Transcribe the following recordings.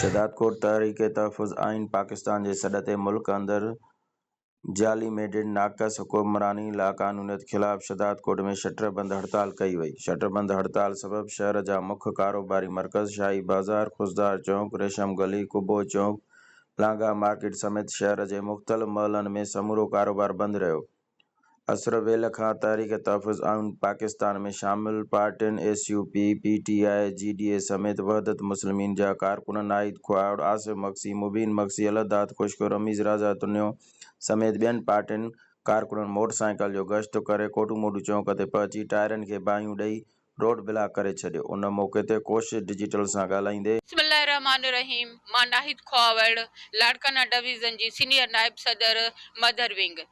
شهدادڪوٽ، تحريڪ تحفظ آئين پاڪستان جي سڏ تي ملڪ اندر جعلي ميڊيٽ ناقص حڪمراني لاقانونيت خلاف شھداد ڪوٽ ۾ شٽر بند ھڙتال ڪئي وئي، شٽر بند ھڙتال سبب شھر جا مک ڪاروباري مرڪز شاھي بازار، خضدار چونڪ، ريشم گلي، قبو چونڪ، لانگاھ مارڪيٽ سميت شھر جي مختلف محلن ۾ سمورو ڪاروبار بند رھيو، اسر ويل کان تحريڪ تحفظ آئون پاڪستان ۾ شامل پارٽين S U P, P T I, G D A سميت وحدت مسلمين جا ڪارڪنن ناهيد کهاوڙ، آصف مگسي، مبين مگسي، الله داد خوشڪو، رميز رازا تنيو سميت ٻين پارٽين ڪارڪنن موٽر سائيڪل جو گشت ڪري ڪوٽو موٽو چونڪ تي پهچي ٽائرن کي باهيون ڏئي روڊ بلاڪ ڪري ڇڏيو ان موقعي تي ڪوشش ڊجيٽل سان ڳالهائيندي. بسم الله الرحمٰن الرحيم مان ناهيد کهاوڙ لاڙڪانا ڊويزن جي سينيئر نائب صدر مدر ونگ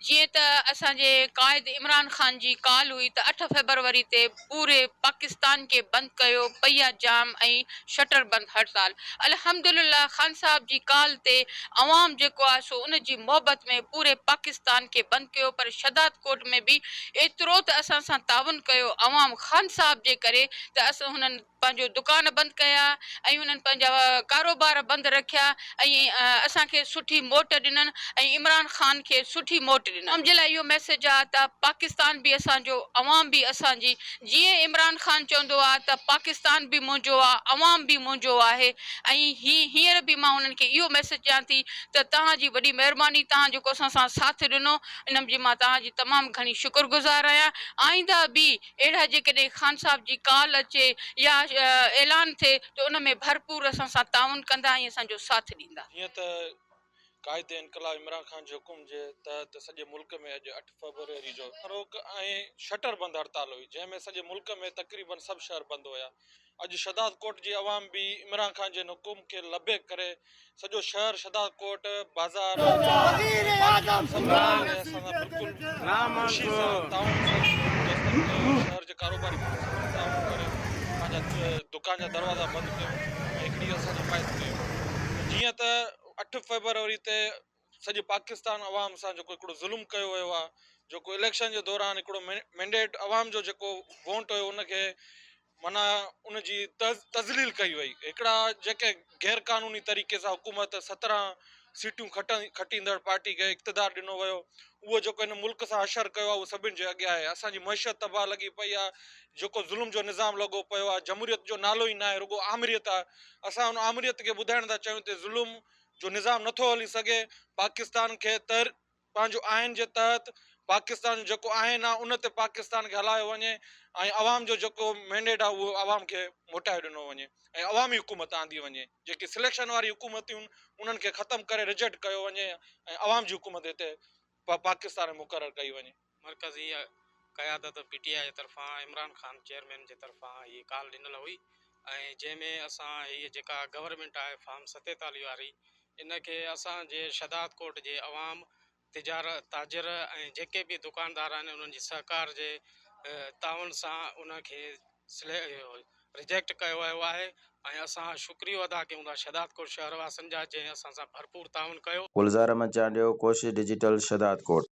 جيئن ته اسان جي قائد عمران خان جي ڪال هئي ته اٺ فيبروري تي پوري پاڪستان کي بند ڪيو پئي آ جام ۽ شٽر بند هڙتال الحمدلله خان صاحب جي ڪال تي عوام جيڪو آهي سو ان جي محبت ۾ پوري پاڪستان کي بند ڪيو پر شھداد ڪوٽ ۾ به ايترو ته اسان سان تعاون ڪيو عوام خان صاحب جي ڪري ته اسان هنن پنهنجو دڪان بند ڪيا ۽ هنن پنهنجا ڪاروبار بند رکيا ۽ اسان کي سٺي موٽ ڏنن ۽ عمران خان کي سٺي موٽ ڏنن عوام جي لاء اهو ميسج آ ته پاڪستان به اسان جو عوام به اسان جي جيئن عمران خان چوندو آ ته پاڪستان به منهنجو آ عوام به منهنجو آهي ۽ هي هينئر به مان انهن کي اهو ميسج ڏيان ٿي ته توهان جي وڏي مهرباني توهان جيڪو اسان سان ساٿ ڏنو انم جي مان توهان جي تمام گهڻي شڪر گذار آهيان آئنده به اهڙا جيڪڏهن خان صاحب جي ڪال اچي يا اعلان ٿئي ته ان ۾ ڀرپور اسان سان تعاون ڪندا ۽ اسان جو ساٿ ڏيندا. جيئن ته قائد انقلاب عمران خان جي حڪم جي تحت سڄي ملڪ ۾ اڄ اٺ فيبروري جو روڪ ۽ شٽر بند هڙتال هئي جنهن ۾ سڄي ملڪ ۾ تقريبن سڀ شهر بند هيا اڄ شھدادڪوٽ جي عوام به عمران خان جن حڪم کي لبيڪ ڪري سڄو شھر شھدادڪوٽ بازار مارڪيٽون سڀ بند ڪري اسان سان بلڪل خوشي سان تعاون سان جيستائين ڪيون شھر جي ڪاروباري ماڻھن سان به تعاون ڪري پنھنجا دڪان جا دروازا بند ڪيون ۽ ھڪڙي اسان جي حمايت ڪيون جيئن ته اٺ فيبروري تي سڄي پاڪستان عوام سان جيڪو هڪڙو ظلم ڪيو ويو آهي جيڪو اليڪشن جي دوران هڪڙو مينڊيٽ عوام جو جيڪو وونٽ هيو ان کي معنيٰ ان جي تذليل ڪئي وئي هڪڙا جيڪي غير قانوني طريقي سان حڪومت سترهن سيٽون کٽيندڙ پارٽي کي اقتدار ڏنو ويو اهو جيڪو هن ملڪ سان حشر ڪيو آهي اهو سڀني جي اڳيان آهي اسان جي معيشت تباهه لڳي پئي آهي جيڪو ظلم جو نظام لڳو پيو آهي جمهوريت جو نالو ئي ناهي رڳو آمريت آهي اسان ان آمريت کي ٻڌائڻ ٿا چاهيون ته ظلم جو نظام نٿو هلي سگهي پاڪستان کي تر پنهنجو آئين جي تحت پاڪستان جو جيڪو آئين آهي ان تي پاڪستان کي هلايو وڃي ۽ عوام جو جيڪو مينڊيٽ آهي اهو عوام کي موٽائي ڏنو وڃي ۽ عوامي حڪومت آندي وڃي جيڪي سليڪشن واري حڪومتون انهن کي ختم ڪري رجيڪٽ ڪيو وڃي ۽ عوام جي حڪومت هتي پ پاڪستان ۾ مقرر ڪئي وڃي. مرڪزي قيادت پي ٽي آء طرفان عمران خان چيئرمين جي طرفان هي ڪال ڏنل هئي ۽ جنهن ۾ اسان هي جيڪا گورنمينٽ آهي فارم ستيتاليهه واري ان کي اسان جي شھداد ڪوٽ جي عوام تجار تاجر ۽ جيڪي به دڪاندار آهن انهن جي سهڪار جي تعاون سان ان کي ريجيڪٽ ڪيو ويو آهي ۽ اسان شڪريو ادا ڪيون ٿا شهدادڪوٽ شهر واسين جا جنهن اسان سان ڀرپور تعاون ڪيو. گلزار احمد چانڊيو ڪوشش ڊجيٽل شھدادڪوٽ.